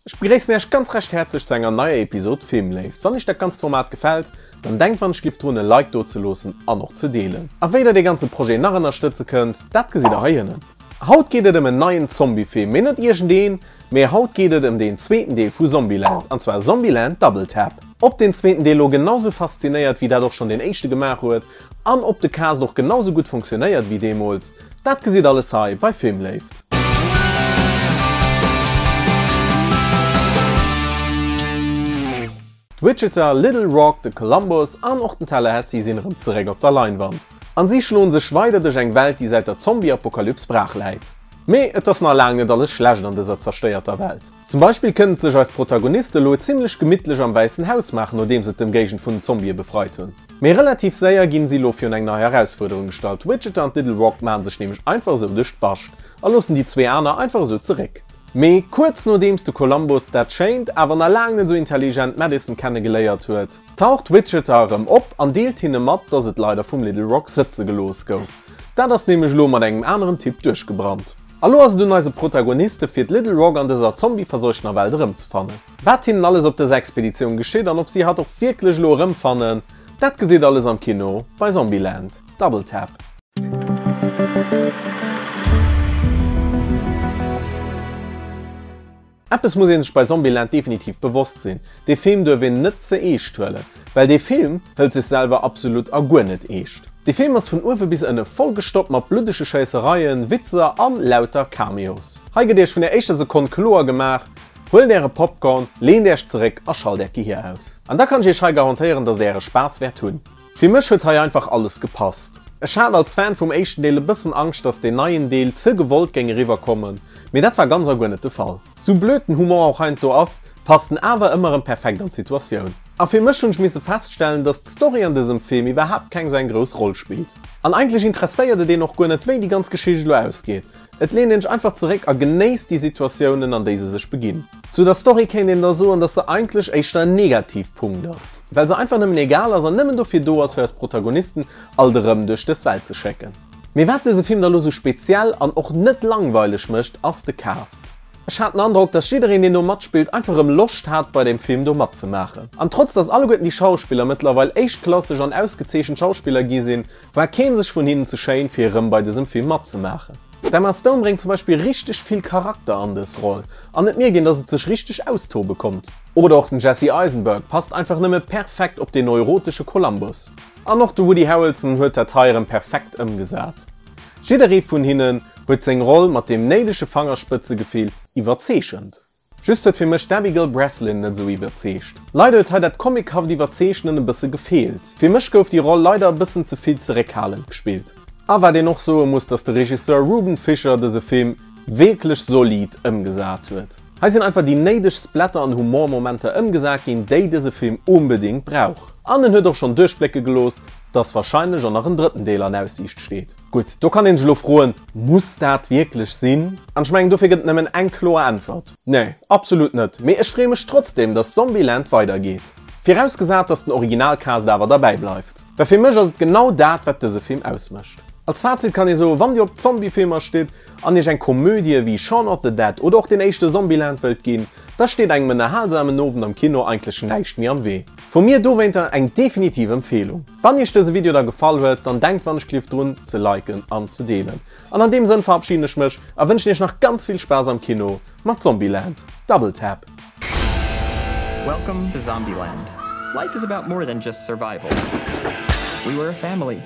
Ech begréissen Äech ganz recht häerzlech zu enger neier Episode Filmléift. Wann Iech dat ganzt Format gefällt, dann denkt wannech giff drun e Like do ze loossen an och ze deelen. A wéi der dee ganze Projet nach ënnerstëtze kënnt, dat gesitt der hei ënnen. Haut geet et ëm en neien Zombiefilm, mee net iergend een, mee haut geet et ëm deen zweeten Deel vu Zombieland, an zwar Zombieland Double Tap. Ob deen zweeten Deel lo genau sou faszinéiert wéi dat och schonn deen éischte gemaach huet, an ob de Cast och genau sou gutt funktionéiert wéi deemools, Dat gesitt alles hei bei Filmléift. D'Widgeter, Little Rock, de Columbus an och den Tallahassee sinn erëm zeréck op der Leinwand a si schloen sech weider duerch eng Welt, déi säit der Zombie-Apokalyps brach läit. Mee et ass nach laang net alles schlecht an dëser zerstéierter Welt. Zum Beispill kënnen et sech eis Protagoniste elo zimmlech gemittlech am Wäissen Haus maachen, nodeems se d'Ëmgéigend vun den Zombie befreit hunn. Mee relativ séier ginn si elo virun eng nei Erausfuerderung gestallt, Widget an d'Little Rock maachen sech nämlech einfach esou duerch d'Bascht a loossen déi zwee aner einfach esou zeréck. Mee kuerz nodeems de Columbus dat schéint awer nach laang net esou intelligent Madison kenne geléiert huet, taucht Widget erëm op an deelt hinne mat, dass et leider vum Little Rock sëtze gelooss gouf. Dat ass nämlech elo mat engem aneren Typ duerchgebrannt. A lo ass et un eise Protagoniste fir d'Little Rock an dëser Zombie-verseuchtener Welt erëmzefannen. Wat hinnen alles op dëser Expeditioun geschitt an ob si hatt och wierklech elo erëmfannen, dat gesitt alles am Kino bei Zombieland, Double Tap. Eppes muss ee sech bei Zombieland definitiv bewosst sinn, dee Film duerf een net ze eescht huelen, well dee Film hëlt sech selwer absolut a guer net eescht. Dee Film ass vun uewe bis ënne vollgestoppt mat bluddege Schéissereien, Witzer an lauter Cameos. Hei gëtt Iech vun der éischter Sekonn kloer gemaach, Huelt Äre Popcorn, leent Äerch zeréck a schalt Äert Gehir aus. An da kann ech Iech hei garantéieren, dass Der Äre Spaass wäert hunn. Fir mech huet hei einfach alles gepasst. Ech hat als Fan vum éischten Deel e bëssen Angscht dass deen neien Deel ze gewollt géing eriwwer kommen, mee dat war ganz a guer net de Fall. Sou blöd den Humor och heiansdo ass, passt en awer ëmmer erëm perfekt an d'Situatioun. A fir mech hunn ech misse feststellen dass d'Story an dësem Film iwwerhaapt keng sou eng grouss Roll spillt. An eigentlech interesséiert et een och guer net wéi déi ganz Geschicht elo ausgeet, Et leent een sech einfach zeréck a genéisst déi Situatiounen, an déi se sech beginn. Zu der Story kéint een da soen, dass se eigentlech éischter en Negativpunkt ass, well se einfach nëmmen egal ass an nëmmen dofir do ass, fir eis Protagonisten alt erëm duerch dës Welt ze schécken. Mee wat dëse Film da lo sou speziell an och net langweileg mécht, ass de Cast. Ech hat den Androck, dass jiddereen, deen do matspillt, einfach erëm Loscht hat, bei deem Film do matzemaachen. An trotz dass alleguerten déi Schauspiller mëttlerweil éischt-klasseg an ausgezeechent Schauspiller gi sinn, War keen sech vun hinnen ze schéin fir erëm bei dësem Film matzemaachen. D'Emma Stone bréngt zum Beispill richteg vill Charakter an dës Roll an et mierkt een dass et sech richteg austobe konnt. Oder och den Jesse Eisenberg passt einfach nëmme perfekt op den neurotesche Columbus. An och de Woody Harrelson huet dat hei erëm perfekt ëmgesat. Jidderee vun hinnen huet seng Roll mat deem néidege Fangerspëtzegefill iwwerzeechent. Just huet fir mech d'Abigail Breslin net esou iwwerzeegt. Leider huet hei dat Comic-haft Iwwerzeechnen e bësse gefeelt. Fir mech gouf déi Roll leider e bëssen ze vill zeréckhalend gespillt. A wat een och soe muss, dass de Regisseur Ruben Fischer dëse Film wierklech solid ëmgesat huet. Hei sinn einfach déi néideg Splatter an Humormomenter ëmgesat ginn, déi dëse Film unbedingt brauch. An en huet och schonn duerchblécke gelooss, dass wahrscheinlech och nach en drëtten Deel an Aussiicht steet. Gutt, do kann een sech elo froen, muss dat wierklech sinn? An ech mengen, dofir gëtt et nëmmen eng kloer Äntwert, Nee, absolut net. Mee ech freeë mech trotzdeem, datt Zombieland weidergeet. Virausgesat, datt den Originalcast awer derbäi bleift. Well fir mech ass et genau dat, wat dëse Film ausmécht. Als Fazit kann ee soen, wann Dir op Zombiefilmer stitt an Iech eng Komödie wéi Shaun of the Dead oder och deen éischte Zombieland wëllt ginn, da steet engem ënnerhalsamen Owend am Kino eigentlech näischt méi am Wee. Vu mir dowéinter eng definitiv Empfeelung. Wann Iech dëse Video da gefall huet, dann denkt wann ech klief drun ze liken an ze deelen. An an deem Sënn verabschieden ech mech a wënschen Iech nach ganz vill Spaass am Kino mat Zombieland, Double Tap. Welcome to Zombieland. Life is about more than just survival. We were a family.